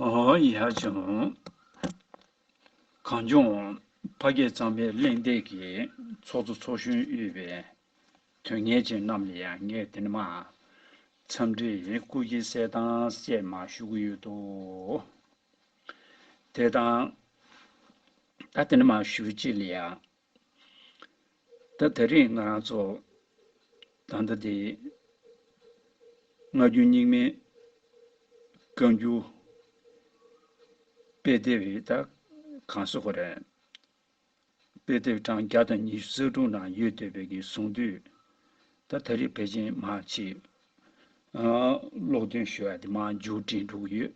ཡ་བྱང། གངས་ལྗོངས། ཕ་སྐད་གཙང་མའི་གླེང་སྟེགས་ཀྱི་ཚོགས་གཙོ་ཚོགས་གཞོན་དབུས་པའི་དོན་གཉེར་ཅན་རྣམས་ལ་ཡང་ངས་འདི་ནས་མ། འཚམས་འདྲི་སྐུལ་གྱི་གསལ་བཏངས་བཅས་མ་ཞུ་གི་ཡོད་དོ། དེ་དང། ད་འདི་ནས་མ་ཞུ་བྱེད་ལ་ཡང་ད་ད་རེས་ང་རང་ཚོ་ད་ལྟ་དེ་སྔ་རྒྱུན་སྙིགས་མའི་བཀའ་འགྱུར་དཔེ་དེབ་རེ་ད་གང་སོ་ཁོ་རེད། དཔེ་དེབ་གྲངས་བརྒྱ་དང་ཉི་ཤུ་རྩ་དྲུག་ན་ཡོད་འདོད་པའི་གི་གསུང་དུས་ད་ད་རེས་བེད་སྤྱིན་མ་བྱེད། ཀློག་འདོན་ཞུ་བ་དེ་མ་འཇུག་དྲན་འགྲོ་གི་ཡོད།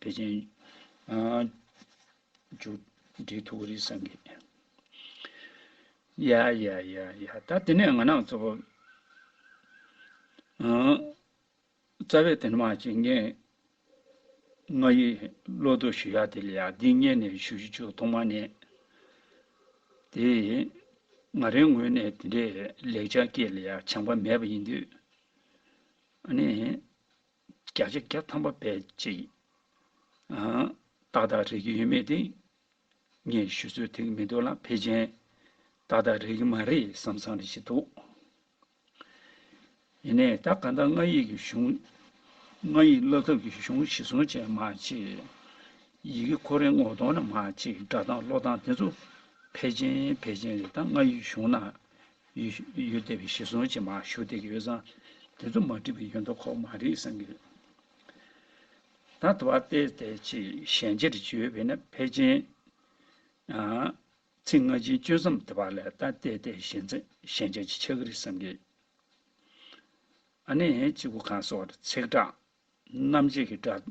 པེ་ཅིན། མཇུག་འགྲིལ་ཐུགས་ཀྱི་རིག་གསར་འགྱེད། ཡ་ཡ་ཡ་ཡ་ད་དེ་ནས་ང་ནག་ཚོ། རྩ་བའི་དེ་འདྲ་མ་བྱེད་ངས། ང་ཡི་བློ་བསྡུ་ཞུ་ཡ་དེ་ལ་ཡ་འདི་གཉེར་ནས་ཞུ་ཞུ་ཆུ་ཐོག་མ་ནས། དེ་ང་རའི་ངོས་ནས་དེ་འདྲའི་ལེགས་ཆ་སྐྱེས་ལ་ཡ་བྱང་པ་མེད་པ་ཡིན་དུས། ཨ་ནི། བརྒྱ་ཆ་བརྒྱ་ཐམ་པ་བེད་སྤྱད་ཡིན། ཏག་ཏག་རེག་གི་ཡོད་མེད་དེ། ངས་ཞུ་ཚོད་ཐིག་མི་འདུག་ལ་ཕེ་ཅན། ཏག་ཏག་རེག་གི་མ་རེད་བསམ་བསམ་རེ་བྱེད་འདུག། ཡིན་ནས་ད་ག་ད་ང་ཡིག་གི་གཞུང། ང་ཡིག་བསླབ་ཐབས་ཀྱི་གཞུང་གཞི་བཟུང་བྱས་མ་བྱས། ཡི་གེ་ཁོ་རེ་ངོ་གཏོང་ན་མ་བྱས་སྒྲ་གདངས་བློ་གདངས་དེ་ཚོ་ཕེ་ཅན་ཕེ་ཅན་རེད་ད་ང་ཡིག་གཞུང་ན་ཡུལ་དེ་བས་ཞེ་སོང་ཅན་མ་ཞུ་དེ་གི་ཡོད་ཙང། དེ་ཚོ་མ་བྲིས་པའི་ཡོད་མདོག་ཁོག་མ་རེད་བསམ་གི་རེད། ད་དེ་བ་སྟེ་དེ་ཆེས་ཞན་ཆེར་བརྗོད་པས་ན་ཕལ་ཆེན། ཚིག་སྔ་ཕྱིའི་གཅོད་མཚམས་དེ་བ་ལས་ད་ལྟའི་དེ་ཞན་ཆ་ཞན་ཆ་ཅིག་ཆགས་གི་རེད་བསམ་གི། ཨ་ནི་གཅིག་པུ་གང་ཟེར་བ་དེ་ཚེག་དྲག་རྣམ་འབྱེད་ཀྱི་སྒྲ།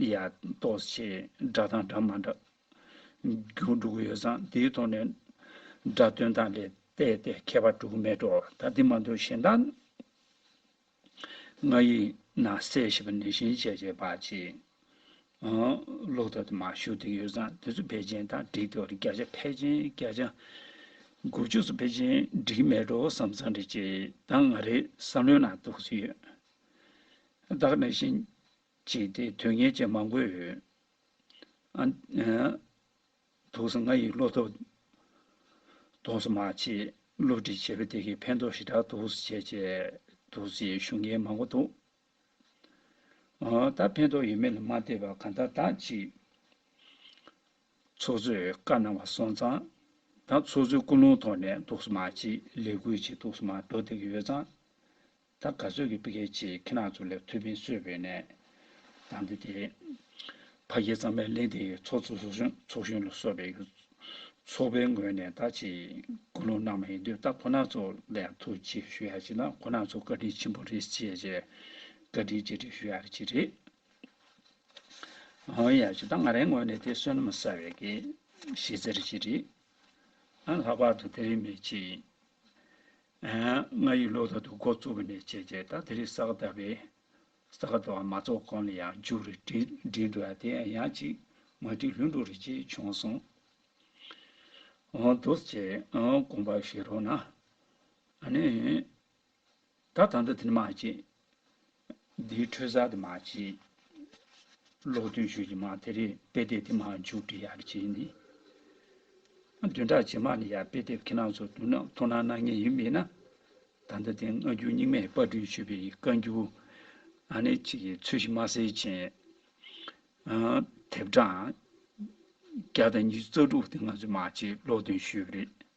ཡ། ཏོ། ཞེས་སྒྲ་དང་སྒྲ་མ་འདྲ། རྒྱུ་དྲུག་ཡོད་ཙང་དེའི་ཐོག་ནས། སྒྲ་དོན་དང་ལས་བལྟས་ཏེ་ཁྱད་པར་དྲུག་མེད་དོ། ད་དེ་མ་འདོད་གཞན་དག། ང་ཡིས་ན་གསལ་ཞེས་པ་ནས་གཞན་བྱས་བྱས་པ་གཅིག། ལོག་ལྟ་དུ་མ་ཞུགས་ཏེ་ཡོད་ཙང་དེ་ཚོ་བེད་ཅན་དང་འགྲིག་སྟེ་བརྒྱ་ཆ་ཕལ་ཆེན་བརྒྱ་ཆ། དགུ་བཅུ་སོགས་བེད་ཅན་འགྲིག་མེད་དུ་བསམ་ཙང་འགྲིག་ཅེས་ད་ང་རེས་བསམ་ལོས་ན་རྟོགས་ཀྱི་ཡོད། བདག་གནས་བཞིན་བྱས་ཏེ་དོན་གཉེར་བྱེད་མ་དགོས། དུག་སེལ་ང་ཡི་བློ་སྟོབས་དོགས་སུ་མ་བྱས། བསླུ་བྲིད་བྱས་པས་དེ་གའི་ཕན་ཐོགས་ཞེ་དྲག་དུག་སེལ་བྱས། དུག་སེལ་ཞེས་ཞུ་མཁན་མང་པོ་འདུག་ད་ཕན་ཐོགས་ཡོད་མེད་ལ་མ་བལྟས་པར་གང་ལྟར་བདག་གཅིག་ཚོགས་གཙོས་བཀའ་གནང་བ་སོང་ཙང། ད་ཚོགས་གཙོའི་སྐུ་རླུང་ཐོག་ནས་དུག་སེལ་མ་བྱས། ལས་འགུལ་བྱས་དུག་སེལ་མ་འགྲོ་བསྡད་ཀྱི་ཡོད་ཙང། ད་ག་ཚོད་ཀྱི་སྤི་ཁེ་ཆེ་ཁི་ནག་ཚོ་ལས་ཐུ་བྷིན་གསོད་བོད་ནས། དང་འདི་དེ། ཕ་རྒྱལ་གཙང་མའི་གླེན་དེ་ཚོ་ཚོ་ཚོ་གཞོན་ཚོ་གཞོན་ལ་གསོད་པའི་གུ། ཚོགས་པའི་ངོས་ནས་ད་ཅི། ཀུ་ལུང་གནང་མ་ཡིན་དུས་ད་ཁོ་ནག་ཚོ་ལས་ཐུ་ཅི་ཞུ་ཡ་ཅི་ན་ཁོ་ནག་ཚོ་བཀའ་དྲིན་ཆེན་པོ་རེད་ཅེ་ཅེ། བཀའ་དྲིན་རྗེས་དྲིན་ཞུ་ཡ་རེད་ཅེ་རེད། ཨང་ཡ་ཅི་ད་ང་རའི་ངོས་ནས་དེ་བསོད་ནམས་གསར་བའི་དགེ། བཤེས་ཚེ་རེད་ཅེ་རེད། ཨང་ལྷག་པར་དུ་དེ་རིང་མེད་ཅེ། ང་ཡི་ལོ་ཟླ་དུ་འགོ་བཙུགས་པ་ནས་བྱས་རྗེས་ད་དེ་རིང་ས་ག་ཟླ་བའི་ས་ག་ཟླ་བ་མ་རྫོགས་གོང་ལ་ཡང་མཇུག་རེ་བསྒྲིལ་འགྲོ་ཡ་དེ་ཡང་ཅིག་མ་བསྒྲིལ་ལྷུན་འགྲོ་རེ་ཅིག་བྱུང་སོང། འོང་འདུག་ཅེས་དགོངས་པ་བཞེས་རོགས་གནང། ད་ད་ལྟ་དེ་འདྲ་མ་བྱེད། འདིའི་འཕྲོས་གསར་དུ་མ་བྱེད། ལོག་བསྟོན་ཞུས་ཀྱི་མ་དེ་རེད་དཔེ་དེབ་དེ་མ་འཇུག་འབྲི་ཡག་བྱས་ནི། བདུན་ཕྲག་རྗེས་མ་ནས་ཡང་དཔེ་དེབ་ཁྱེད་རང་ཚོ་བསྡུ་ན་མཐོང་སྣང་གནང་ངེས་ཡིན་མེད་ན། ད་ལྟ་དེ་སྔ་འགྱུར་རྙིང་མས་དཔར་སྐྲུན་ཞུས་པའི་བཀའ་འགྱུར། ཨ་ནེ་གཅིག་གི་ཚོས་ཤིང་མ་གསེར་ཅན། དེབ་གྲངས། བརྒྱ་དང་ཉི་ཤུ་རྩ་དྲུག་དེ་ང་ཚོས་མ་བྱེད་ལོག་བསྟོན་ཞུས་པ་རེད།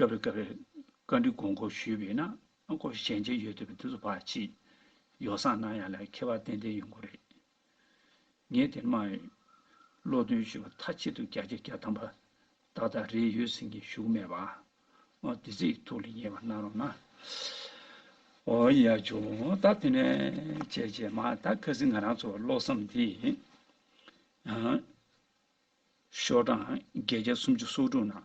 སྐབས་རེ་སྐབས་རེར་བཀའ་འདྲི་དགོངས་སྐོར་ཞུས་པས་ན་སྐོར་ཞིག་ཞལ་མཇལ་ཡོད་འདོད་པའི་དུས་སུ་བར་ཆད་ཡོ་བསྲང་གནང་ཡ་ལ་ཁྱད་པར་ཏན་ཏན་ཡོང་གི་རེད། ངས་དེ་སྨྲ་ཡོད། བློ་འདོན་ཞུས་པ་མཐའ་གཅིག་ཏུ་བརྒྱ་ཆ་བརྒྱ་གདམས་པ་ཏག་ཏག་རེད་ཡོད་ཟེར་མཁན་བཞུགས་མེད་པ་འོ་དེ་ཚོའི་ཐུགས་ལ་ཉེ་བར་གནང་རོགས་གནང། འོ་ཡ་བྱུང་ད་དེ་ནས་བྱས་བྱས་མ་ད་གལ་སྲིད་ང་རང་ཚོ་བློ་བསམ་དེ་ཡང། ཤོག་གྲངས་བརྒྱད་བརྒྱ་སུམ་ཅུ་སོ་དྲུག་ནང་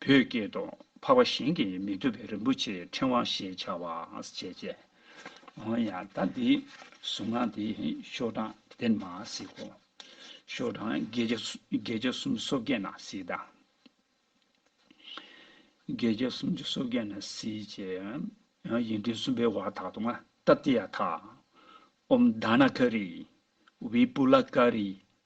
བུ་སྐྱེས་དང་འཕགས་པ་གཞན་གྱིས་མི་ཐུབ་པའི་རིན་པོ་ཆེའི་ཕྲེང་བ་ཞེས་བྱ་བ་བྱས། ཅེས་ཡང་དག་འདི་གཟུང་ན་དེ་ཤོག་གྲངས་དེར་མ་གཟིགས་གོ། ཤོག་གྲངས་བརྒྱད་བརྒྱ་གསུམ་སོ་བརྒྱད་ན་གཟིགས་དང། བརྒྱད་བརྒྱ་གསུམ་ཅུ་སོ་བརྒྱད་ན་གཟིགས། ཅེས་ཡིག་འབྲུ་གསུམ་པའི་བར་དག་ཏུ་ཨཏ྄་ཏི་ཡ་ཐ། ཨ྄ོ་དཱ་ནཱ་ཀ་རི། བི་པུ་ལ་ཀ་རི།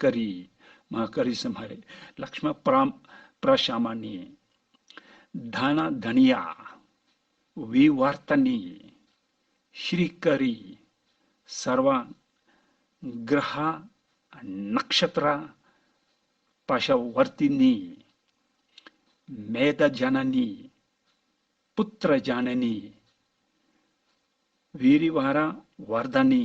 ཀ་རི། མ་ཀ་རི་སི་མ་རི། ལག་ཤི་མ་པ་ར། པ་ར་ཤ་མ་ནི། དྷ་ན་དྷ་ནི་ཡ། བི་བར་ཏ་ནི། ཤི་རི་ཀ་རི། སར་བ། གི་ར་ཧ། ནག་ཤ་ཏི་ར། པ་ཤ་བར་ཏི་ནི། མེ་ད་ཇ་ན་ནི། པུ་ཏི་ར་ཇ་ན་ནི། བི་རི་བ་ར་བར་ད་ནི།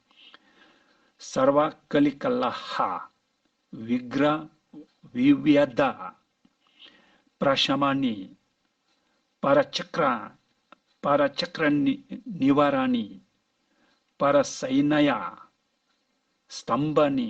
སར་བ་ཀཱ་ལི་ཀཱ་ལ་ཧ། བི་གྷ་ར། བི་བྷི་ཡ་དཱ། པྲ་ཤ་མ་ནི། པ་ར་ཅི་ཀྲ། པ་ར་ཅི་ཀྲ་ནི་བ་ར་ནི། པ་ར་སའི་ན་ཡ། སྟམ་བ་ནི།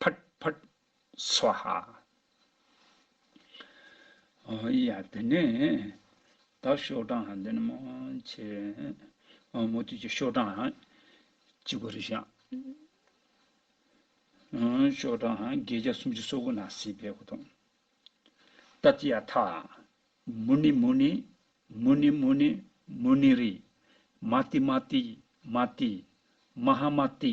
ཕཱར་ཕཱར་སཝཱ་ཧཱ། ཡ། དེ་ནས་དག་ཤོག་གྲངས་འདི་ནི་མོ། ཆེ། མོ། དུས་ཀྱི་ཤོག་གྲངས། གཅིག་པུ་རེ་བཞག། ཤོག་གྲངས་བརྒྱད་བརྒྱ་སུམ་ཅུ་སོ་དགུ་ན་སྲིད་པའི་གོ་དོང། ཏཱ་ཏི་ཡ་ཐ། མུ་ནི་མུ་ནི། མུ་ནི་མུ་ནི། མུ་ནི་རི། མ་ཏི་མ་ཏི། མ་ཏི། མ་ཧཱ་མ་ཏི།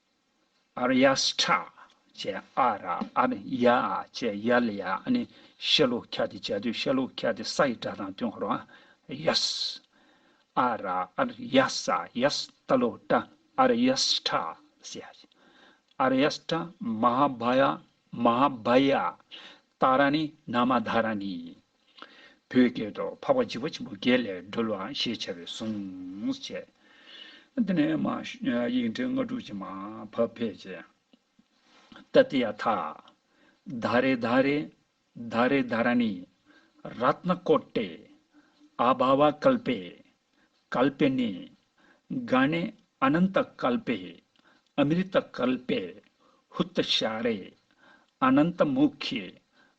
ཨ་ར་ཡཱ་སི་ཁྲ་བཅས་ཨ་ར་ཨ་ར་ཡ་ཨ་བཅས་ཡ་ལི་ཡ་ཨ་ནི་ཤེ་ལོ་ཁ་དེ་བྱ་དུས་ཤེ་ལོ་ཁ་དེ་ས་ཡི་སྒྲ་དང་བསྟུན་ཧོར་ཨ་ཡཱ་སི་ཨ་ར་ཨ་ར་ཡ་སི་ཨ་ཡཱ་སི་ཏཱ་ལོ་ཏཱ་ཨ་ར་ཡཱ་སི་ཁྲ་བཅས་ཨ་ཡཱ་ཨ་ར་ཡཱ་སི་ཁྲ་མ་ཧཱ་བྷ་ཡ་མ་ཧཱ་བྷ་ཡ་ཏཱ་ར་ནི་ན་མ་དྷ་ར་ནི་བོད་སྐད་དུ་འཕགས་པ་འཇིགས་པ་ཆེན་པོ་བརྒྱད་ལས་སྒྲོལ་བ་ཞེས་བྱ་བའི་གཟུངས་བཅས། དེ་ནས་མ། ཡིག་འབྲེལ་ལྔ་དྲུག་ཅིག་མ། བབས་ཕས་ཀྱི། ཏཱ་ཏི་ཡ་ཐ། དཱ་རེ་དཱ་རེ། དཱ་རེ་དཱ་ར་ནི། རཏྣ་ཀོ་ཏེ། ཨ་བྷ་བ་ཀལ་པེ། ཀལ་པེ་ནི། ག་ནི་ཨ་ནནྟ་ཀལ་པེ། ཨ་མི་རི་ཏ་ཀལ་པེ། ཧུ་ཏ་ཤ་རེ། ཨ་ནནྟ་མུ་ཁི།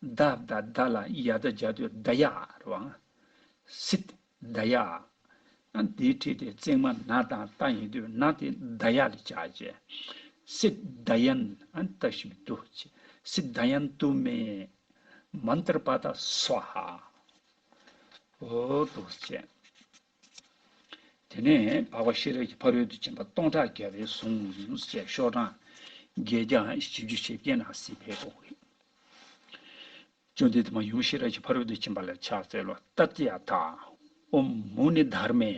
བདག་བདག་བདག་ལ་ཡ་བདག་བརྒྱ་སྟོད་བདག་ཡ། རོང། སིད། བདག་ཡ། ཡང་དེའི་ཁྲིད་དེ་བརྩེགས་མ་ན་དང་རྟ་ཡིན་དུས་ན་དེ་བདག་ཡ་ལས་བྱ་བྱེད། སིད། བདག་ཡན། ད་ཤི་བི་ཏུ། སིད། བདག་ཡན་ཏུ་མེ། མནྟར་པ་ད་སུ་ཧ། ཧོ། དུ་བྱེད། དེ་ནས་འཕགས་པ་ཤེས་རབ་ཀྱི་ཕ་རོལ་ཏུ་ཕྱིན་པ་སྟོང་ཕྲག་བརྒྱ་པའི་གཟུངས་བཅས་ཤོག་གྲངས་བརྒྱད་བརྒྱ་བཞི་བཅུ་ཞེ་བརྒྱད་ནང་གསེས་ཕེབས་པའོ། བཅོམ་ལྡན་འདས་མ་ཡུམ་ཤེས་རབ་ཀྱི་ཕ་རོལ་ཏུ་ཕྱིན་པ་ལ་ཕྱག་འཚལ་ལོ། ཏཏྱ་ཏཱ་ཨོ་མུ་ནི་དྷར་མེ།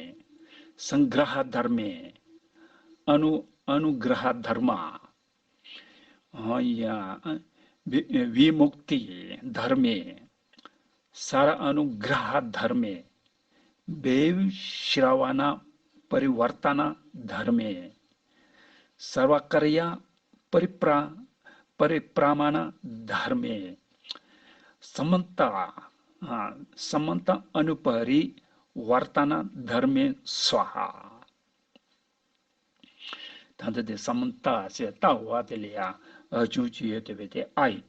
སངས་གྷྲ་ཧ་དྷར་མེ། ཨ་ནུ་ཨ་ནུ་གྷྲ་ཧ་དྷར་མ། ཧཱུྃ། བི་མུཀྟི་དྷར་མེ། སཱ་ར་ཨ་ནུ་གྷྲ་ཧ་དྷར་མེ། བེའུ་ཤི་ར་བ་ན་པ་རི་བར་ཏ་ན་དྷར་མེ། སར་བ་ཀར་ཡ་པ་རི་པྲ་པ་རི་པྲ་མ་ན་དྷར་མེ། སཱ་མན་ཏ་ཨ་སཱ་མན་ཏ་ཨ་ནུ་པ་རི་བར་ཏ་ན་དྷར་མེ་སཱ་ཧ། ད་འདི་དེ་སཱ་མན་ཏ་ཞེས་བཏགས་བ་དེ་ལས་ཡང་ཅུང་ཅི་ཡོད་དེ་བས་དེ་ཨ་ཡིན།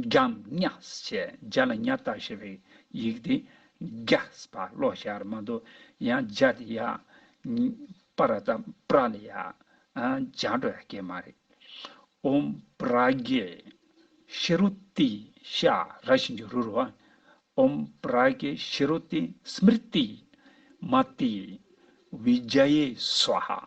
རྒྱམ་ཉགས་ཞེས་རྒྱ་ལ་ཉག་སྟག་ཞེས་པའི་ཡིག་དེ་རྒྱགས་པ་ཀློག་ཞེས་ཨར་མ་མདོ་ཡང་རྒྱ་དེ་ཡ། པ་ར་ཏཱ་པྲ་ལ་ཡ། རྒྱ་འགྲོ་ཡ་སྐད་མ་རེད། འོམ་བུ་ར་གེ། ཤི་རུ་ཏི་ཤ་ར་བཞིན་གྱི་རུ་རུ་ཨ། འོམ་བུ་ར་གེ་ཤི་རུ་ཏི་སྨིར་ཏི། མ་ཏི། བི་རྒྱ་ཡེ་སུ་ཧ།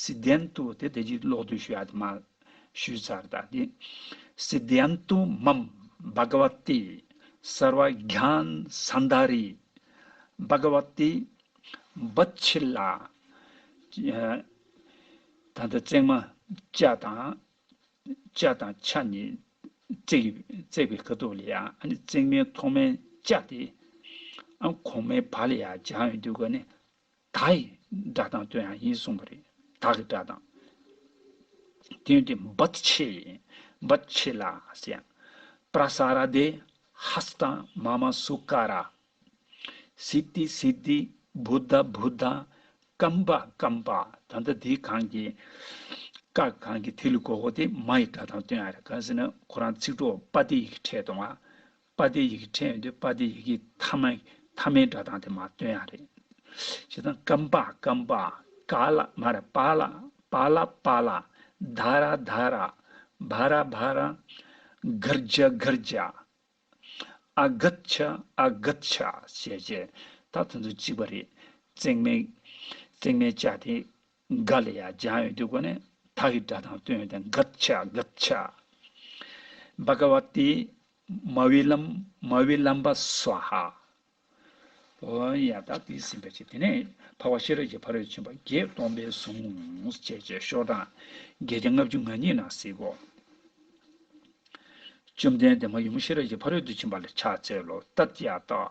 སི་ཏན་ཏུ་དེ་དེ་རྗེས་ཀློག་དུས་ཞུ་ཡག་དུ་མ་ཞུས་ཚར་ད་དེ། སི་ཏན་ཏུ་མམ་བྷ་ག་བ་ཏི་སར་བ་གྷྱན་སཱན་དཱ་རི། བྷ་ག་བ་ཏི། བུ་ཆི་ལ། དང་དུ་བརྩེགས་མ། བཅའ་དང། བཅའ་དང་ཆ་ནི། བརྩེགས་པའི་ཁ་དོག་ལ་ཡང་བརྩེགས་མའི་ཐོག་མའི་བཅའ་སྟེ། གོང་མའི་བ་ལ་ཡང་བྱང་བའི་འདུས་སྐབས་ནི་དག་ཡི་སྒྲ་དང་དོན་ཡང་ཡིན་གསུངས་པ་རེད། དག་གི་སྒྲ་དང། དོན་དེ་འབོད་བྱེད་ཡིན། འབོད་བྱེད་ལ་ཟེར་ཡང། པྲ་སཱ་ར་དེ། ཧཱས་དང་མ་མ་སུ་ཀ་ར། སི་ཏི་སི་ཏི། བུ་ད་བུ་ད། ཀམ་པ་ཀམ་པ། ད་ལྟ་དེ་གང་གི། ཀ་གང་གི་དེ་ལུས་གོ་གོ་དེ་མ་ཡི་སྒྲ་དང་དོན་ཡང་རེད་གང་ཟེར་ན་ཁོ་རང་ཚིག་གྲོགས་པ་དེ་ཡི་གི་ཕྲད་དང། པ་སྟེ་ཡི་གེ་ཕྲད་ཡོད་དུས་པ་སྟེ་ཡི་གེ་ཐ་མ་ཐ་མའི་སྒྲ་གདངས་དེ་མ་སྟོན་ཡང་རེད། ཞེས་དང། ཀམ་པ་ཀམ་པ། ཀ་ལ་མ་ར་པ་ལ། པ་ལ་པ་ལ། ད་ར་ད་ར། བ་ར་བ་ར། གར་རྒྱ་གར་རྒྱ། ཨ་གྷད་ཆ་ཨ་གྷད་ཆ། ཞེས་བྱས། ད་དེ་ཚོ་གཅིག་པ་རེད། བརྩེགས་མའི་བརྩེགས་མའི་ལྕགས་དེ། འགའ་ལ་ཡང་སྦྱང་ཡོད་དུས་གོ་ནས་དག་གི་སྒྲ་དང་སྟོན་ཡོད་དེ་འགག་བྱ་འགག་བྱ། བ་ག་བ་ཏི། མ་བི་ལམ་མ་བི་ལམ་པ་སྭཱ་ཧཱ། ཨོ་ཡ་དག་དེ་ཟིན་པའི་ཕྱིར་དེ་ནས་འཕགས་པ་ཤེས་རབ་ཀྱི་ཕ་རོལ་ཕྱིན་པ་བརྒྱད་སྟོང་པའི་གཟུངས་བཅས་བཅས་ཤོག་གྲངས་བརྒྱད་ཀྱི་ལྔ་བཅུ་ང་གཉིས་ན་གཟིགས་གོ། བཅོམ་ལྡན་འདས་མ་ཡུམ་ཤེས་རབ་ཀྱི་ཕ་རོལ་ཏུ་ཕྱིན་པ་ལ་ཕྱག་འཚལ་ལོ། ཏཱ་ཏི་ཡཱ་ཏཱ།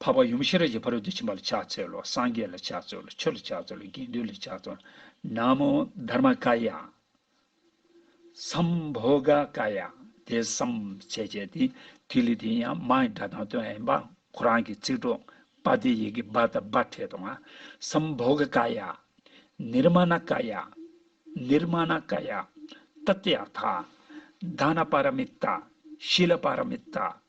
འཕགས་པ་ཡུམ་ཤེས་རབ་ཀྱི་ཕ་རོལ་ཏུ་ཕྱིན་པ་ལ་ཕྱག་འཚལ་ལོ། སངས་རྒྱས་ལ་ཕྱག་འཚལ་ལོ། ཆོས་ལ་ཕྱག་འཚལ་ལོ། དགེ་འདུན་ལ་ཕྱག་འཚལ་ལོ། ན་མོ་དྷར་མ་ཀཱི་ཡ། སམ་བྷོ་ག་ཀཱི་ཡ། དེ་བསམ་བྱས་བྱས་ཏེ། ཐིག་ལེ་དེ་ཡང་མ་ཡི་སྒྲ་དང་དོན་ཡིན་པ། ཁོ་རང་གི་ཚིག་གྲོགས། པཱ་ཏའི་ཡི་གེ་བཱ་དང་བཱ་ཏྲས་དང། སམ་བྷོ་ག་ཀཱི་ཡ། ནི་ར་མ་ན་ཀཱི་ཡ། ནི་ར་མ་ན་ཀཱི་ཡ། ཏཏེ་ཨ་ཐ། དཱ་ན་པཱ་ར་མི་ཏྟ། ཤི་ལ་པཱ་ར་མི་ཏྟ།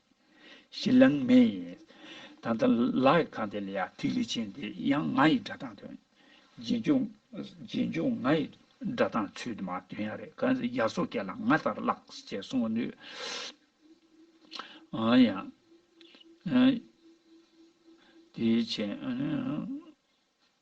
ཞེས་ལན་མེ་ཡིན། ད་ལྟ་ལག་གི་ཁང་དེ་ལ་ཡང་ཐིག་ལེ་ཅན་དེ་ཡང་ང་ཡི་སྒྲ་གདངས་དོན། རྗེས་འཇུག་ང་ཡི་སྒྲ་གདངས་ཚུལ་དུ་མ་སྟོན་ཡ་རེད་གང་ཟེར་རྒྱ་སོ་སྐད་ལ་ང་ལྟར་བཀླགས་ཅེས་གསུང་བ་ནུས། འོན་ཡང། དེའི་ཕྱིར།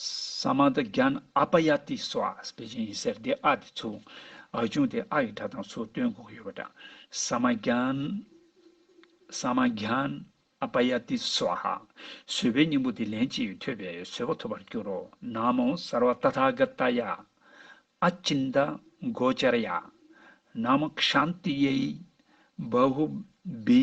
ས་མ་ཏི་རྒྱན་ཨ་པ་ཡ་ཏི་སོགས་ཨ་སྤེ་ཅན་ཡིན་ཟེར་དེ་ཨ་དེ་ཚོ་ཨ་ཆུང་དེ་ཨ་ཡི་སྒྲ་དང་ཚུར་བསྟུན་དགོས་ཡོད་པ་འདྲ་ས་མ་རྒྱན་ས་མ་རྒྱན་ཨ་པ་ཡ་ཏི་སོགས་ཧ་བཟོད་པའི་སྙིང་པོ་དེ་ལན་གཅིག་ཐོས་པས་བཟོད་པ་ཐོབ་པར་འགྱུར་རོ་ན་མོ་སར་བ་ཏཱ་ཐཱ་ག་ཏ་ཡ་ཨ་ཅིན་ཏཱ་གོ་ཅཱ་ར་ཡ་ན་མོ་ཤཱནྟི་ཡེ་ཧི་བཱ་ཧུ་བི་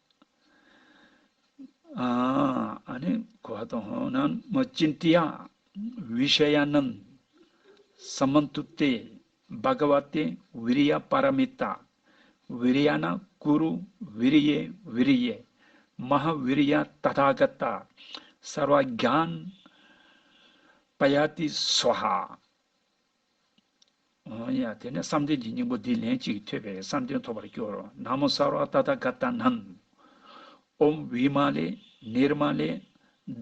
ཨཱ། གོ་བ་དང་ཧོ་ནཱ་མོ་ཅི་ཏི་ཡ་བི་ཤ་ཡ་ནཱི། སམ་མ་ཏུ་ཏེ་བྷ་ག་བ་ཏེ་བི་རི་ཡ་པ་ར་མི་ཏ། བི་རི་ཡ་ན་ཀུ་རུ་བི་རི་ཡེ་བི་རི་ཡེ། མ་ཧཱ་བི་རི་ཡ་ཏ་དྷ་ག་ཏ། སར་བ་རྒྱ་ཨན་པ་ཡ་ཏི་སཝཱ་ཧཱ། ཡང་དེ་ནས་བསམ་གཏན་གྱི་སྙིང་པོ་འདི་ལན་ཅིག་ཐོས་པས་བསམ་གཏན་ཐོབ་པར་འགྱུར་རོ། ན་མོ་སྭ་བྷཱ་ཏ་ཐ་ག་ཏཱ་ནཱི། ཨོམ་བི་མ་ལེ་ནིར་མ་ལེ་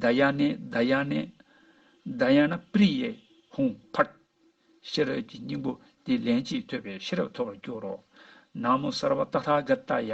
དཱ་ཡ་ནེ་དཱ་ཡ་ནེ། དཱ་ཡ་ན་པྲི་ཡེ་ཧཱུྃ་བྷཱུྃ། ཤེས་རབ་ཀྱི་སྙིང་པོ་འདི་ལན་ཅིག་ཐོས་པས་ཤེས་རབ་ཐོབ་པར་འགྱུར་རོ། ན་མོ་སྭ་བྷཱ་ཏ་ཐ་ག་ཏཱ་ཡ།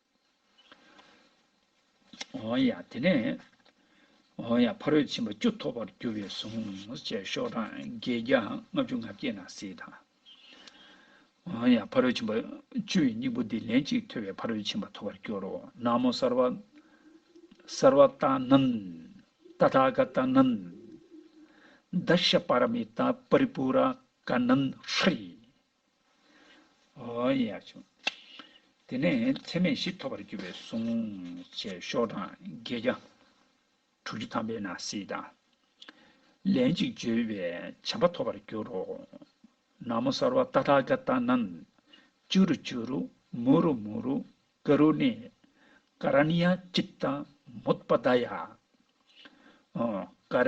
འོང་ཡ། དེ་ནས་འོང་ཡ་ཕ་རོལ་ཕྱིན་པ་བཅུ་ཐོབ་པར་འགྱུར་བས་གཟུངས་བཅས་ཤོག་གྲངས་བརྒྱད་བརྒྱ་ལྔ་བཅུ་ང་བསྐྱེད་ན་སྲིད་དང། འོང་ཡ་ཕ་རོལ་ཕྱིན་པ་བཅུ་ཡི་སྙིང་པོ་འདི་ལན་གཅིག་ཐོས་པས་ཕ་རོལ་ཕྱིན་པ་ཐོབ་པར་འགྱུར་རོ། ན་མོ་སར་བ། སར་བ་ཏཱ་ནན། ཏ་ཐ་ག་ཏཱ་ནན། ད་ཤྲཱི་པ་ར་མི་ཏཱ་པ་རི་པུ་ར་ཀ་ནན་ཧྲཱི། ཡིན་ཡང་བྱུང། དེ་ནས་ཚད་མེད་བཞི་ཐོབ་པར་གྱུར་པའི་གཟུངས། ཅེས་ཤོག་གྲངས་བརྒྱད་བརྒྱ། དྲུག་ཅུ་ཐམ་པའི་ན་བཟིས་དང། ལན་ཅིག་བརྗོད་པས་བྱམས་པ་ཐོབ་པར་འགྱུར་རོ། ན་མོ་སར་བ་ཏཱ་ཏྲ་ཀ་ཏཱ་ནན། ཅུ་རུ་ཅུ་རུ། མུ་རུ་མུ་རུ། ཀ་རུ་ཎི། ཀ་ར་ཎི་ཡ་ཅིཏྟ་མུཏྤ་ཏཱ་ཡ། ཀ་ར་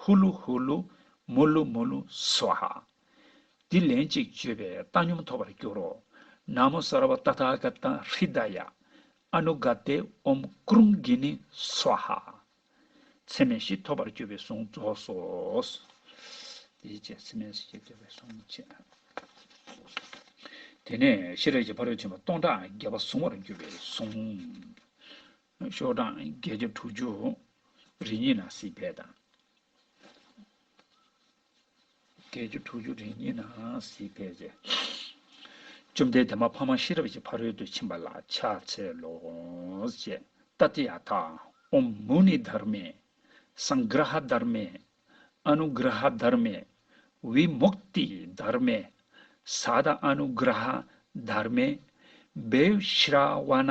ཧུ་ལུ་ཧུ་ལུ། མུ་ལུ་མུ་ལུ། སཝཱ་ཧཱ། འདི་ལན་གཅིག་བརྗོད་པས་བཏང་སྙོམས་ཐོབ་པར་འགྱུར་རོ། ན་མོ་ས་ར་བ་ཏཱ་ཐཱ་ག་ཏཱ་ཧྲི་ད་ཡ། ཨ་ནུ་ག་ཏེ་ཨོམ་ཀྲུང་གི་ནི། སཝཱ་ཧཱ། ཚད་མེད་བཞི་ཐོབ་པར་གྱུར་པའི་གཟུངས་རྫོགས་སོ། དེའི་རྗེས་ཚད་མེད་བཞི་ཐོབ་པའི་གཟུངས་བཅས། དེ་ནས་ཤེས་རབ་ཀྱི་ཕ་རོལ་ཕྱིན་པ་སྟོང་ཕྲག་བརྒྱ་པ་གཟུང་བར་འགྱུར་བའི་གཟུངས། ཤོག་གྲངས་བརྒྱད་བརྒྱ་དྲུག་ཅུ། རི་གཉིས་ན་སྲིད་བལ་དང། བརྒྱད་བརྒྱ་དྲུག་ཅུ་རི་གཉིས་ན་སྲིད་བལ་བཅས། བཅོམ་ལྡན་འདས་མ་ཕ་མ་ཤེས་རབ་ཀྱི་ཕ་རོལ་ཏུ་ཕྱིན་པ་ལ་ཕྱག་འཚལ་ལོ། ཅེས་ཏཱ་ཏི་ཡ་ཐ་ཨོམ་མུ་ནི་དྷར་མེ། སངྒ་ར་ཧ་དྷར་མེ། ཨ་ནུ་གྷིར་ཧ་དྷར་མེ། བྷི་མུཀ་ཏི་དྷར་མེ། ས་ཏྭ་ཨ་ནུ་གྷིར་ཧ་དྷར་མེ། བྷེ་ཧྲཱི་ཝ་ན་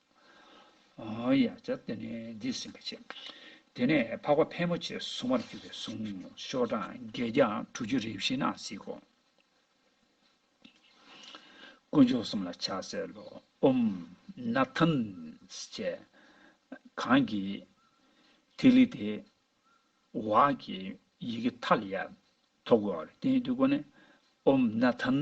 ཡ་བྱ་སྟེ་ནི་འདི་ཟིན་པར་བྱེད། དེ་ནས་འཕགས་པ་ཕལ་མོ་ཆེ་གཟུང་བར་གྱུར་པའི་གཟུངས་བཤོས་གྲངས་བརྒྱད་བརྒྱ་དྲུག་ཅུ་རེ་བཞི་ན་གཟིགས་སོ། དཀོན་མཆོག་གསུམ་ལ་ཕྱག་འཚལ་ལོ། ཨུམ། ན་ཐཱན། ཅེས། གང་གིས། ཐིག་ལེ་དེ། བྷཱ་ཀྱི། ཡི་གེ་མཐའ་ལ་ཡར། ཐོག་གོ་བ་ལ་བརྟེན་ཏེ་བསྐོར་ནས། ཨུམ། ན་ཐཱན།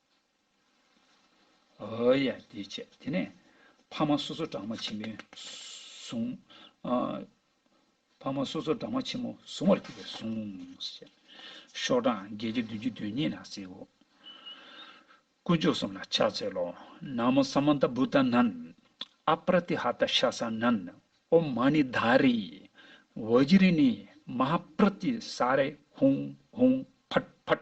ཨོའོ་ཡ་དེ་བྱས་དེ་ནས། ཕ་མ་སོ་སོ་སྦྲང་མ་ཆེན་མོའི་བཟུང། ཕ་མ་སོ་སོ་སྦྲང་མ་ཆེན་མོ་བཟུང་བར་གྱུར་པས་བཟུང། ཤོག་གྲངས་བརྒྱད་ཅུ་བདུན་བཅུ་དོན་གཉིས་ན་བསྲེའོ། དཀོན་མཆོག་གསུམ་ལ་ཕྱག་འཚལ་ལོ། ན་མོ་ས་མ་ནྟ་བུ་ཏཱ་ནན། ཨ་པྲ་ཏི་ཧ་ཏཱ་ཤཱ་ས་ནན། ཨོ་མ་ནི་དཱ་རི། ཝཱི་ཇི་རི་ནི་མ་ཧཱ་པྲ་ཏི་ས་རེ་ཧཱུྃ་ཧཱུྃ་ཕྲ྄་ཕྲ྄།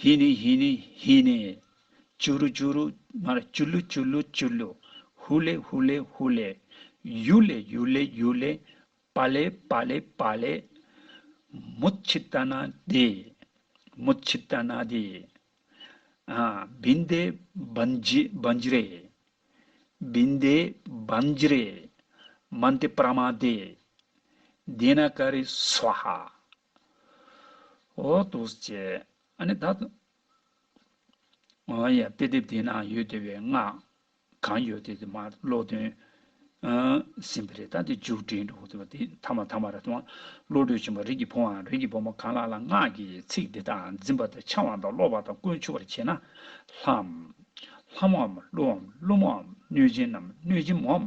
ཧི་ནི་ཧི་ནི་ཧི་ནི། ཅུ་རུ་ཅུ་རུ། མ་རེད། ཅུ་ལུ་ཅུ་ལུ་ཅུ་ལུ། ཧུ་ལེ་ཧུ་ལེ་ཧུ་ལེ། ཡུ་ལེ་ཡུ་ལེ་ཡུ་ལེ། པ་ལེ་པ་ལེ་པ་ལེ། མུ་ཆི་ཏཱ་ནཱ་དི། མུ་ཆི་ཏཱ་ནཱ་དི། ཨ། བིན་དེ་བན་ཇི་བན་ཇི་རེ། བིན་དེ་བན་ཇི་རེ། མན་དེ་པྲ་མ་དི། དེ་ན་ཀ་རི་སུ་བྷ། འོ་ཏུ་སྐྱེ། ཨ་ནི་ད། ཨོ་ཡ། དཔེ་དེབ་དེ་ན་ཡོད་དེ་བའི་ང། གང་ཡོད་དེ་དེ་མ་བློ་དོན། ཟིན་པ་རེད་ད་དེ་འཇུག་འགྲེལ་འགྲོ་དེ་བ་དེ་ཐ་མ་ཐ་མ་ར་ཐུང་བློ་གྲོས་ཆེན་པོ་རིགས་ཀྱི་བུ་འམ་རིགས་ཀྱི་བུ་མོ་གང་ལ་ལ་ངག་གི་ཚིག་འདི་དག་འཛིན་པ་དང་འཆང་བ་དང་སློབ་བ་དང་ཀུན་ཆུབ་པར་བྱེད་ན། ལྷའམ། ལྷ་མོའམ་ཀླུའམ་ཀླུ་མོའམ་གནོད་སྦྱིན་ནམ་གནོད་སྦྱིན་མོའམ།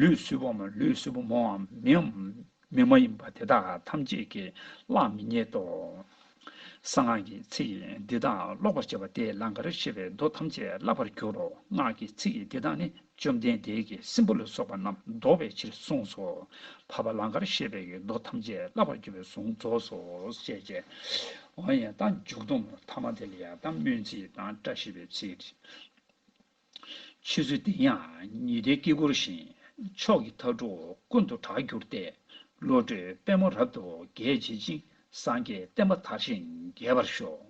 ལུས་གསུས་པོ་མ་ལུས་གསུས་པོ་མོའམ་མིའམ་མི་མ་ཡིན་པ་དེ་དག་ཐམས་ཅད་ཀྱིས་གླགས་མི་རྙེད་དོ། གསང་སྔགས་ཀྱི་ཚིག་འདི་དག་ཀློག་པར་བྱེད་པ་དེས་ལང་ཀར་ཤེས་པའི་མདོ་ཐམས་ཅད་བསླབ་པར་འགྱུར་རོ། སྔགས་ཀྱི་ཚིག་འདི་དག་ནི་བཅོམ་ལྡན་འདས་ཀྱིས་སྲིན་པོ་ལ་སོགས་པ་རྣམས་བཟློག་པའི་ཕྱིར་གསུངས་སོ། བར་པ་ལང་ཀར་ཤེས་པའི་མདོ་ཐམས་ཅད་བསླབ་པར་འགྱུར་བའི་གཟུངས་རྫོགས་སོ། ཞེས་བྱ་བ་ཡང་དག་འཇུག་སྡོམ་ཐ་མ་དེ་ལ་ཡང་དག་སྨོན་ཚིག་དང་བཀྲ་ཤིས་པའི་ཚིག། ཕྱི་ཚུལ་བདེན་ཡང་ཉི་ཟླའི་དཀྱིལ་འཁོར་བཞིན། མཆོག་གི་མཐའ་དྲུག་ཀུན་ཏུ་གྲགས་གྱུར་ཏེ། བློ་གྲོས་པད་མོ་རབ་ཏུ་རྒྱས་བྱེད་ཅིང། སངས་རྒྱས་བསྟན་པ་དར་ཞིང་རྒྱས་པར་ཤོག།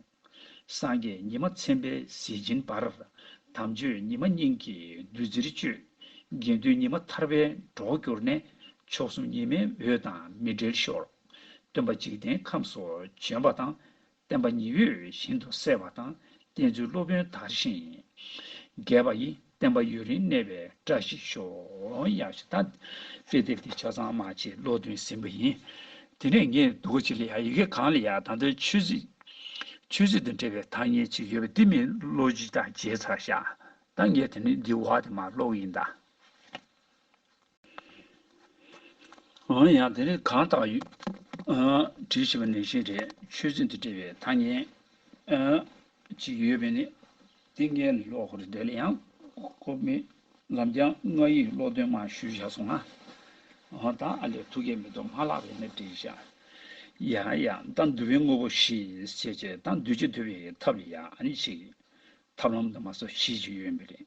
སངས་རྒྱས་ཉི་མ་མཚན་དཔེའི་གཟི་བྱིན་འབར། དམ་ཆོས་ཉི་མ་སྙིང་གི་བདུད་རྩིར་སྤྱོད། དགེ་འདུན་ཉི་མ་ཐར་པའི་གྲོགས་གྱུར་ནས། མཆོག་གསུམ་ཉི་མའི་འོད་དང་མི་འབྲལ་ཤོག། སྟོན་པ་འཇིག་རྟེན་ཁམས་སུ་བྱོན་པ་དང། བསྟན་པ་ཉི་འོད་བཞིན་དུ་གསལ་བ་དང་བསྟན་ཚུལ་སློབ་དཔོན་དར་ཞིང་རྒྱས་པ་ཡི་བསྟན་པ་ཡུན་རིང་གནས་པའི་བཀྲ་ཤིས་ཤོག། དཔེ་དེབ་འདི་ཆ་ཚང་མ་ཆེས་བློ་གདུང་ཟིན་པ་ཡིན། དེ་ནས་ངས་སྡུག་གི་ཆེད་ལས་ཡ་ཡི་གེ་གང་ལ་ཡང་ད་ལྟ་ཆོས་སྲིད། ཆོས་སྲིད་དང་འབྲེལ་བའི་ཐ་སྙད་ཅིག་ཡོད་པ་འདི་མི་བློ་སྤྱི་དང་བརྗེ་ཚར་བཞག་ད་ངས་དེ་ནི་འདི་བ་དེ་མ་ཀློག་གི་ཡིན་ད། འོན་ཡང་དེ་ནི་གང་དག་ཡུལ་དྲི་ཞེས་པ་ནི་ཞེས་རེས་ཆོས་ཚུལ་དུ་འབྲེལ་བའི་ཐ་སྙད་ཅིག་ཡོད་པས་ནི་ཏིང་ངེ་ལོག་གོ་རེ་འདོད་ལ་ཡང་གོ་མི་ལམ་རྐྱང་ང་ཡིས་ཀློག་འདོན་མ་ཞུས་བཞག་སོང་ང་འོ་ད་ཨ་ལས་ཐུགས་ཀྱི་མེ་ཏོག་མ་བརླག་པའི་གནད་བྲིས་བཞག་ཡ་ཡ་ད་འདུལ་བའི་དངོས་པོ་ཞེས་བྱས་ཀྱི་ད་འདུལ་བྱེད་འདུལ་བའི་ཐབས་ལ་ཡང་ནི་ཞིག་ཐབས་ལམ་དུ་མ་སོགས་གཞི་ཅིག་ཡོད་མི་རེད།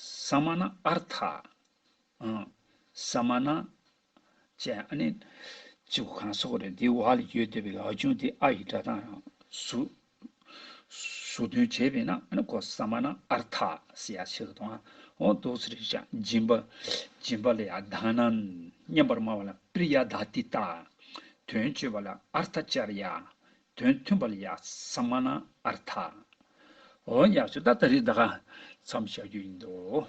ས་མ་ན་ཨར་ཐ། ས་མ་ན། ཅེས་ཨ་ནི། ཅེས་གོ་གང་ས་གོ་རེད་འདིའི་བར་ལ་ཡོད་བསྡད་པའི་ཡག་ཆུང་དེ་ཨ་ཡི་སྒྲ་གདངས་ཡང་ཟུག། ཟུག་དོན་བྱས་པས་ན་ཨ་ནི་གོ་ས་མ་ན་ཨར་ཐ་ཟེར་ཡག་ཆེ་གི་དོན་ཨང་འདུག་ཚུལ་རེད་ཅེས་སྦྱིན་པ། སྦྱིན་པ་ལ་ཡག་གདངས་ན་སྙན་པར་སྨྲ་བ་ལ་པིར་ཡག་གདགས་ཏི་ཏཱ། དོན་བཅོས་པ་ལ་ཨར་ཐ་བཅར་ཡག། དོན་མཐུན་པར་ཡག་ས་མ་གནང་ཨར་ཐ། འོན་ཡག་ཆུ་ད་ད་རེད་ད་ག་ཚམ་བྱ་རྒྱུ་ཡིན་འདུག།